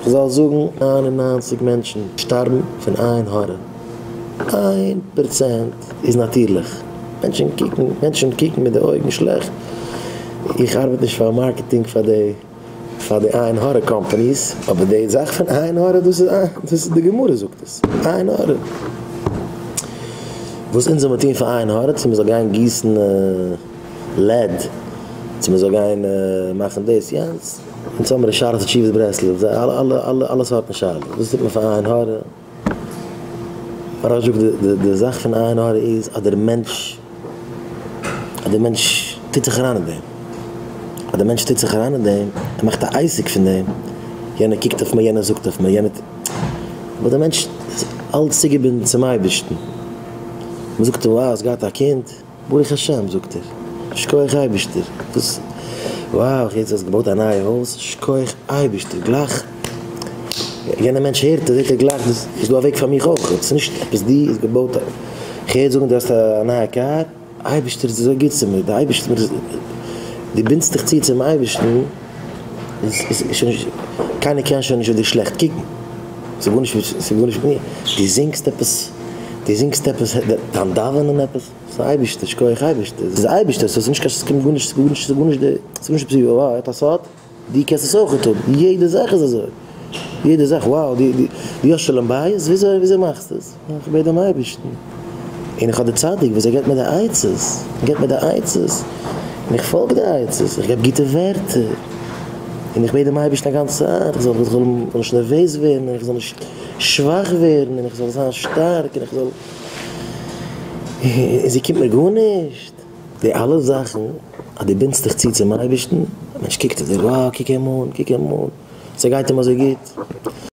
כ'זאל זאגן איין און ניינציג מענטשן שטארבן פון עין הרע, איין פראצענט איז נאטירליך, מענטשן קוקן, מענטשן קוקן מיט די אויגן שלעכט, איך ארבעט נישט פאר מארקעטינג פאר די פאר די עין הרע קאמפאניס, אבער די זאך פון עין הרע דאס איז דאס איז די גמרא זאגט עס, עין הרע. וואס אונז זאל מען טון פאר עין הרע, צו מען זאל גיין גיסן לעד, צו מען זאל גיין מאכן דאס יענץ, און צו האבן ר' שרה'ס תשובות ברסלב, זיי אלע אלע אלע אלע סארטן שאלות, וואס טוט מען פאר עין הרע? מהרש זאגט די די זאך פון עין הרע איז אז דער מענטש אז דער מענטש טוט זיך אריין אין דעם, אז דער מענטש טוט זיך אריין אין דעם, ער מאכט א עסק פון דעם, יענער קוקט אויף מיר, יענער זאגט אויף מיר, יענער טוט, אבער דער מענטש איז אלץ צוגעבינדן צום אייבערשטן, מ'זאגט אים וואו, האסט געהאט א קינד? ברוך השם זאגט ער, שקויעך אייבישטער, וואס וואו, יעצט האסט געבויט א נייע הויז, שקויעך אייבישטער, גלייך יענע מענטש הערט עס זעט ער גלייך דאס איז דא א וועג פאר מיך אויך, עס איז נישט עפעס דו האסט געבויט א, איך הער זאגן דו האסט א נייע קאר, אייבישטער איז אזוי גוט צו מיר, די אייבישטער, דו בינדסט דיך צו צום אייבישטן, קיינער קען שוין נישט אויף דיר שלעכט קוקן, ס'איז גארנישט מיט מיר, דו זינגסט עפעס, דו זינגסט עפעס, דיין דאווענען עפעס, ס'איז אייבערשטער, שכוח אייבערשטער, ס'איז אייבערשטער, ס'איז נישט קיין, ס'קומט גארנישט, ס'גארנישט, ס'גארנישט די, ס'גארנישט עפעס ווי וואו ער האט א סוד, דו קענסט עס אויכעט האבן, יעדע זאך איז אזוי, יעדע זאך, וואו, דו האסט שלום בית? וויאזוי, וויאזוי מאכסטו עס? און כ'בעט דעם אייבערשטן, און איך האב די צדיק וואס ער געבט מיר די עצות, ער געבט מיר די עצות, און איך פאלג די עצות, איך געב גוטע ווערטער, און איך בעט דעם אייבערשטן א גאנצע צייט, איך זאל נישט נערוועז ווערן, און איך זאל נישט שוואך ווערן, און איך זאל זיין שטארק, און איך זאל, און זי קומט מיר גארנישט. די אלע זאכן אז דו בינדסט דיך צו צום אייבערשטן, א מענטש קוקט אויף דיר, וואו, קוק אים אן, קוק אים אן, ס'גייט אים אזוי גוט,